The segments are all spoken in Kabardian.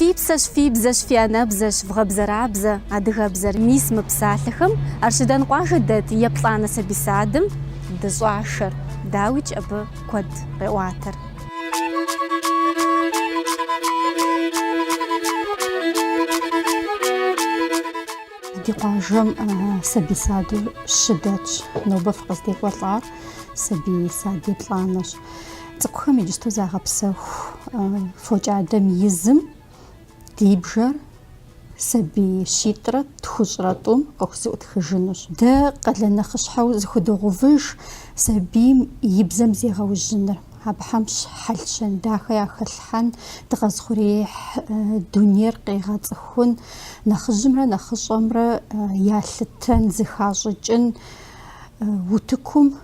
Фи псэщ, фи бзэщ, фи анэбзэщ, вгъэбзэрабзэ, адыгэбзэр. Мис мы псалъэхэм Арщыдэн къуажэ дэт еплӏанэ сабий садым дыщӏашэр, дауикӏ абы куэд къеӏуатэр. Ди къуажэм сабий саду щы дэтщ, нобэ фыкъыздекӏуэлӏар сабий сад еплӏанэщ. Цӏыкӏухэм иджысту загъэпсэху фокӏадэм и зым ди бжэр сабий щитӏрэ тхущӏрэ тӏум къахузэӏутхыжынущ. Дэ къалэн нэхъыщхьэу зыхудогъэувыж сабийм и бзэм зегъэужьыныр. Абыхэм хьэл-щэн дахэ яхэлъхьэн, дыкъэзыухъуреихь дунейр къегъэцӏыхун, нэхъыжьымрэ нэхъыщӏэмрэ ялъытэн, зыхащӏыкӏын утыкум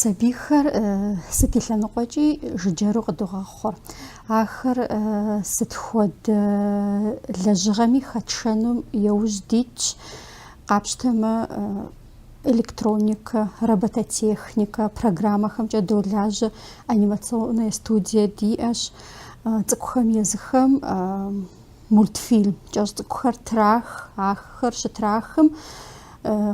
Сабийхэр сыт и лъэныкъуэкӏи жыджэру къыдогъэхъур. Ахэр сыт хуэдэ лэжьыгъэми хэтшэну яужь дитщ. Къапщтэмэ, электроникэ, робототехникэ программэхэмкӏэ долажьэ анимационная студие диӏэщ. Цӏыкӏухэм езыхэм мультфильм кӏэщӏ цӏыкӏухэр трах, ахэр щытрахым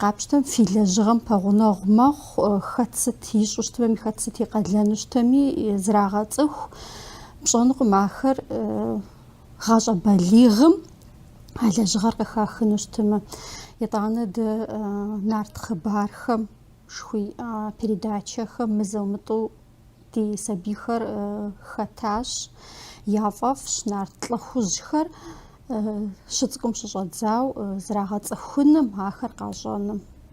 къапщтэм фи лэжьыгъэм пэгъунэгъу мэхъу, хэт сыт ищӏэу щытми, хэт сыт и къалэну щытми зрагъэцӏыху. Пщӏэнукъым ахэр гъащӏэ балигъым а лэжьыгъэр къыхахыну щытмэ. Итӏанэ дэ нарт хъыбархэмкӏэ фиӏа передачэхэм мызэ-мытӏэу ди сабийхэр хэтащ, яфӏэфӏщ нарт лӏыхъужьхэр щыцӏыкӏум щыщӏэдзауэ зрагъэцӏыхуным, ахэр къащӏэным.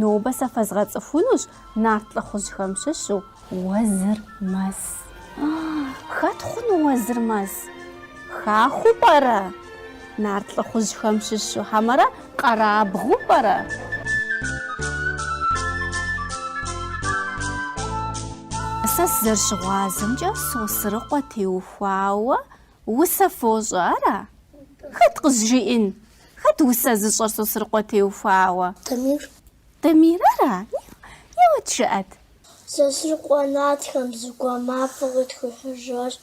Нобэ сэ фэзгъэцӏыхунущ нарт лӏыхъужьхэм щыщу Уэзырмэс. Хэт хъуну Уэзырмэс? Хахуэу пӏэрэ? Нарт лӏыхъужьхэм щыщу, хьэмэрэ къэрабгъэу пӏэрэ? Сэ сызэрыщыгъуазэмкӏэ, Сосрыкъуэ теухуауэ усэ фощӏэ, ара? Хэт къызжиӏэн? Хэт усэ зыщӏэр Сосрыкъуэ теухуауэ? Дамир. Дамир ара? Еуэт жыӏэт. Сосрыкъуэ нартхэм зэгуэр мафӏэ къытхуихьыжащ.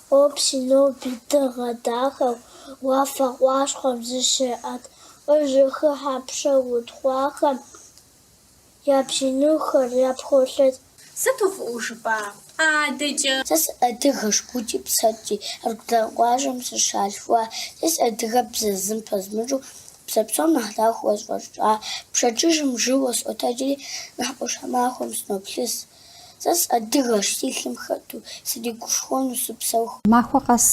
Къопсыр ноби дыгъэ дахэу уафэ къащхъуэм зыщеӏэт. Яжьэхыхьэу пшэ утхъуахэм Я бжьыныхэр япхуолъэт. Сыту фӏыуэ жыпӏа адэкӏэ. Сэ сыадыгэщ гукӏи псэкӏи, Аргудан къуажэм сыщалъхуа. Сэ си адыгэбзэр зым пэзмыщӏу, Бзэ псом нэхъ дахэу къысфӏэщӏа. Пщэдджыжьым жьыуэ сотэджри, Нэхъ ӏуащхьэмахуэм сыноплъыс. Сэ сыадыгэщ, си лъым хэту, сригушхуэну сыпсэуху. Махуэ къэс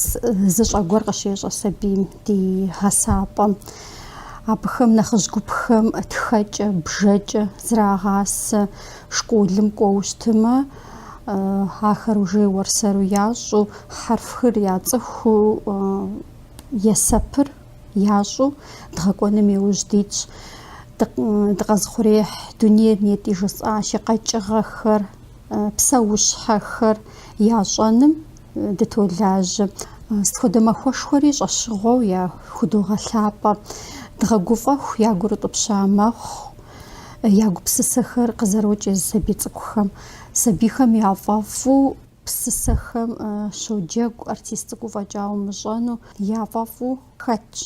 зы щӏэ гуэр къыщещӏэ сабийм ди гъэсапӏэм. Абыхэм нэхъыжь гупхэм тхэкӏэ, бжэкӏэ зрагъасэ. Школым кӏуэу щытымэ, ахэр уже уэр-сэру ящӏэу, хьэрфхэр яцӏыхуу, есэпыр. Ящӏэу дгъэкӏуэным и ужь дитщ. Дыкъэзыхъуреихь дунейр нетӏэ жысӏащи, къэкӏыгъэхэр, псэущхьэхэр ящӏэным дытолажьэ. Сыт хуэдэ махуэшхуэри щӏэщыгъуэу яхудогъэлъапӏэ. Дгъэгуфӏэху, ягур утӏыпща мэхъу я гупсысэхэр къызэрокӏ езы сабий цӏыкӏухэм, сабийхэм яфӏэфӏу. Псысэхэм щоджэгу артист цӏыкӏу фӏэкӏа умыщӏэну яфӏэфӏу хэтщ.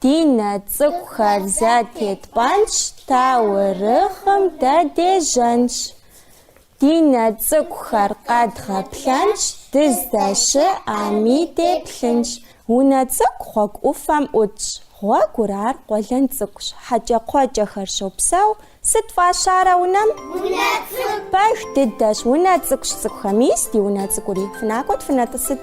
Ди нэ цӏыкӏухэр зэтетпӏэнщ, таурыхъым дэдежьэнщ. Ди нэ цӏыкӏухэр къэдгъэплъэнщ, дыздэщыӏэми деплъынщ. Унэ цӏыкӏу гъуэгу ӏуфэм ӏутщ. Гъуэгур ар къуэлэн цӏыкӏущ. Хьэкӏэкхъуэкӏэхэр щопсэу. Сыт фӏащарэ унэм? Унэ цӏыкӏу. Пэж дыдэщ, унэ цӏыкӏущ цӏыкӏухэ. Мис ди унэ цӏыкӏури. Фынакӏуэт, фынэтӏысыт.